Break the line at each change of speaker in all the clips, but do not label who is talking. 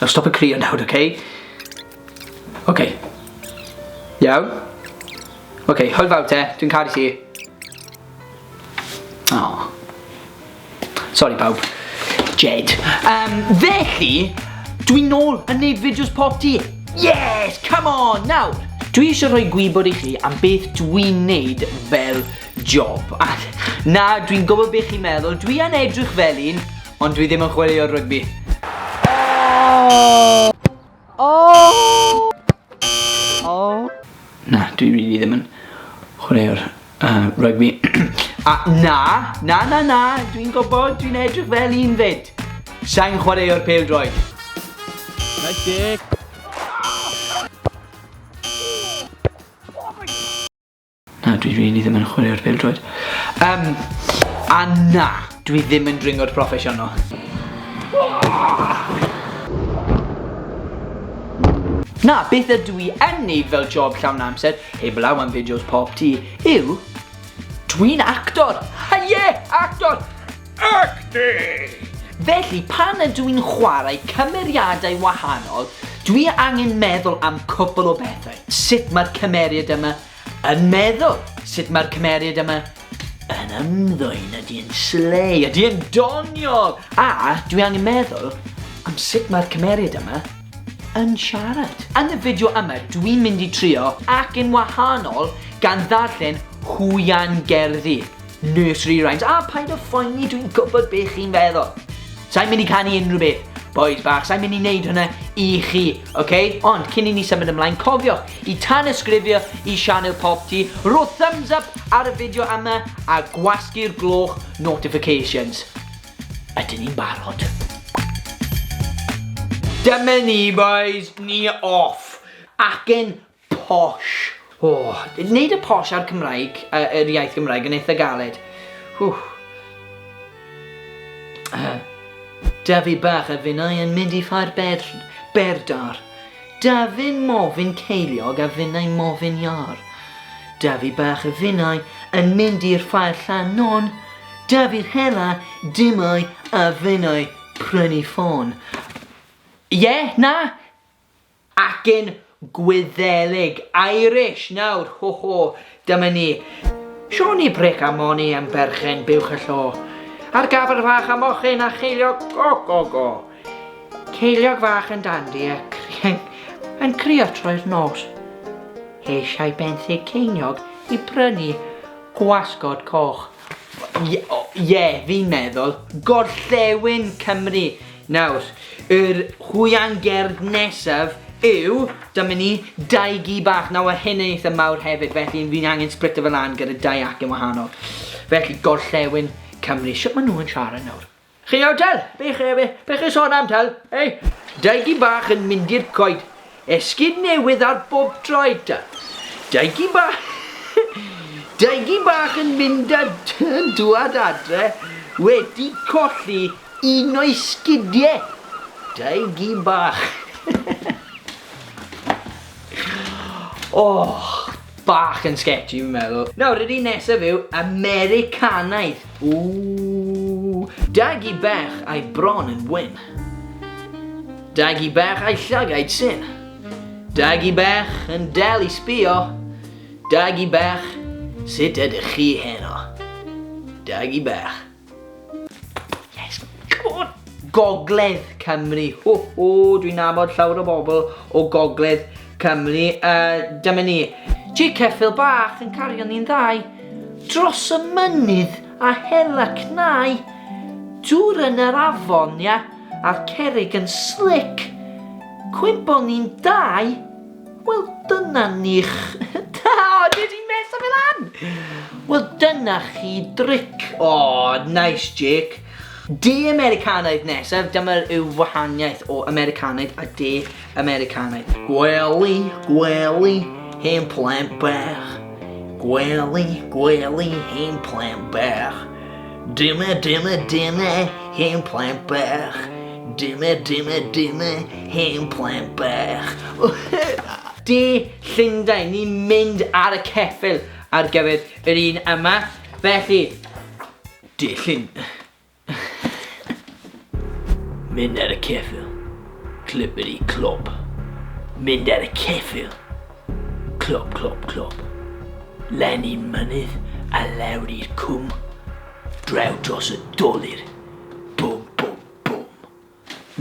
Nawr stop y crio nawr, ok? Ok. Iawn? Ok, hwyl fawr te, dwi'n caru ti. Oh. Sorry pawb. Jed. Um, felly, dwi'n nôl yn neud fideos pop ti. Yes, come on, nawr. Dwi eisiau rhoi gwybod i chi am beth dwi'n neud fel job. A na, dwi'n gwybod beth chi'n meddwl, dwi yn edrych fel un, Ond dwi ddim yn chwilio rygbi. Oh! Oh! Oh! Na, dwi really ddim yn chwaraeo'r uh, rygbi. A na, na, na, na, dwi'n gwybod, dwi'n edrych fel un fyd. Sa'n chwaraeo'r pel droed. Nice dick. Na, dwi rili ddim yn chwarae'r bildroed. Um, a na, dwi ddim yn dringwr proffesiynol. Na, beth ydw i yn neud fel job llawn amser, heblaw am fideos pop ti, yw dwi'n actor! Ha ie, actor! Acting! Felly, pan ydw i'n chwarae cymeriadau wahanol, dwi angen meddwl am cwpl o bethau. Sut mae'r cymeriad yma yn meddwl? Sut mae'r cymeriad yma yn ymddwyn? Ydy yn slei? Ydy yn doniol? A dwi angen meddwl am sut mae'r cymeriad yma yn siarad. Yn y fideo yma, dwi'n mynd i trio ac yn wahanol gan ddarllen hwyan gerddi. Nursery rhymes, a paid a phoeni dwi'n gwybod be chi'n feddwl. Sa'n mynd i canu unrhyw beth, boys bach, sa'n mynd i wneud hwnna i chi, oce? Okay? Ond cyn i ni symud ymlaen, cofio i tan ysgrifio i Sianel Pop Ti, ro thumbs up ar y fideo yma a gwasgu'r gloch notifications. Ydyn ni'n barod? Dyma ni boys, ni off. Acen Posh. O! Neud y posh a'r Cymraeg, yr iaith Gymraeg yn eitha galed. Ww. Dafi bach a finnau yn mynd i ffair bedr, berdar. Dafin mofyn ceiliog a finnau mofyn iâr. Dafi bach a finnau yn mynd i'r ffair llan non. Dafi'r hela dimau a finnau prynu ffôn. Ie, na! Acen Gwyddelig, Irish, nawr, ho ho, dyma ni. Siôn i bric a moni am berchen buwch y llo. Ar gafr fach a mochyn a cheiliog go go go. Ceiliog fach yn dandi a crian yn crio troi'r nos. Eisiau benthyg ceiniog i brynu gwasgod coch. Ie, o, ie, fi'n meddwl, gorllewin Cymru. Nawr, yr hwya'n gerdd nesaf yw, dyma ni, dau gi bach. Nawr, mae hyn yn eitha mawr hefyd, felly fi'n angen splitio fe lan gyda dau acen wahanol. Felly, gorllewin Cymru. Shwt maen nhw'n siarad nawr? Chi yw Del? Be chi yw e? Be chi sôn am Del? Ei, Daigy bach yn mynd i'r coed. Esgid newydd ar bob droed ta. Daigy bach... Daigy bach yn mynd a yn dŵad adre wedi colli un o'i sgidiau. Daigy bach. Och, bach yn sketchy fi'n meddwl. Nawr yr un nesaf yw Americanaidd. Ooh. Dagi bach a'i bron yn wyn. Dagi bach a'i llygaid syn. Dagi bach yn dal i sbio. Dagi bach, sut ydych chi heno? Dagi bach. Yes, come on! Gogledd Cymru. Ho, ho, dwi'n nabod llawr o bobl o Gogledd Cymru. Uh, dyma ni. Chi ceffil bach yn cario ni'n ddau. Dros y mynydd a hela cnau. Dŵr yn yr afon, ia, a'r cerig yn slic. Cwympo ni'n dau. Wel dyna ni'ch... Da! Dwi 'di meso fe lan! Wel dyna chi dric. Aww, nice Jake. De Americanaidd nesaf, dyma yw wahaniaeth o Americanaidd a De Americanaidd. Gwely, gwely, hen plant bach. Gwely, gwely, hen plant bach. Dyma, dyma, dyma, hen plaen bach. Dyma, dyma, dyma, hen plaen bach. De Llundain, ni'n mynd ar y ceffil ar gyfer yr un yma. Felly, de Llundain. Mynd ar y ceffyl. Clippity clop. Mynd ar y ceffyl. Clop, clop, clop. Len i'r mynydd a lawr i'r cwm. Draw dros y dolir. Bwm, bwm, bwm.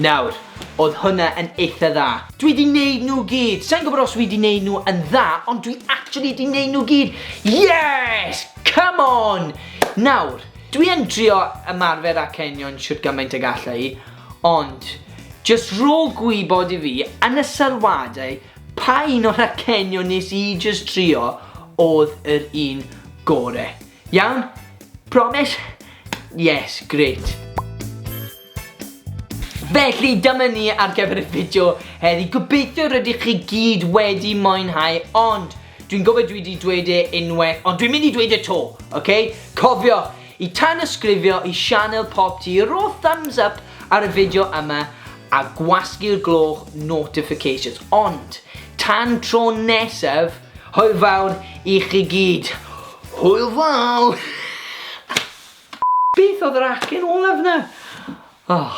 Nawr, oedd hwnna yn eitha dda. Dwi di neud nhw gyd. Sa'n gwybod os wi di neud nhw yn dda, ond dwi actually di neud nhw gyd. Yes! Come on! Nawr, Dwi yn trio ymarfer â ceinion shwt gymaint ag alla i, ond jyst rho gwybod i fi yn y sylwadau pa un o'r acenion nes i jyst trio odd yr un gore. Iawn? Promise? Yes, grêt. Felly, dyma ni ar gyfer y fideo heddi. Gobeithio rydych chi gyd wedi mwynhau, ond dwi'n gofio dwi wedi dweud e unwaith, ond dwi'n mynd i dweud e to, oce? Cofio, i tan ysgrifio i sianel Pop Tee, ro thumbs up ar y fideo yma a gwasgu'r gloch notifications. Ond, tan tro nesaf, hwyl fawr i chi gyd. Hwyl fawr! Beth oedd yr acen olaf 'na? Oh.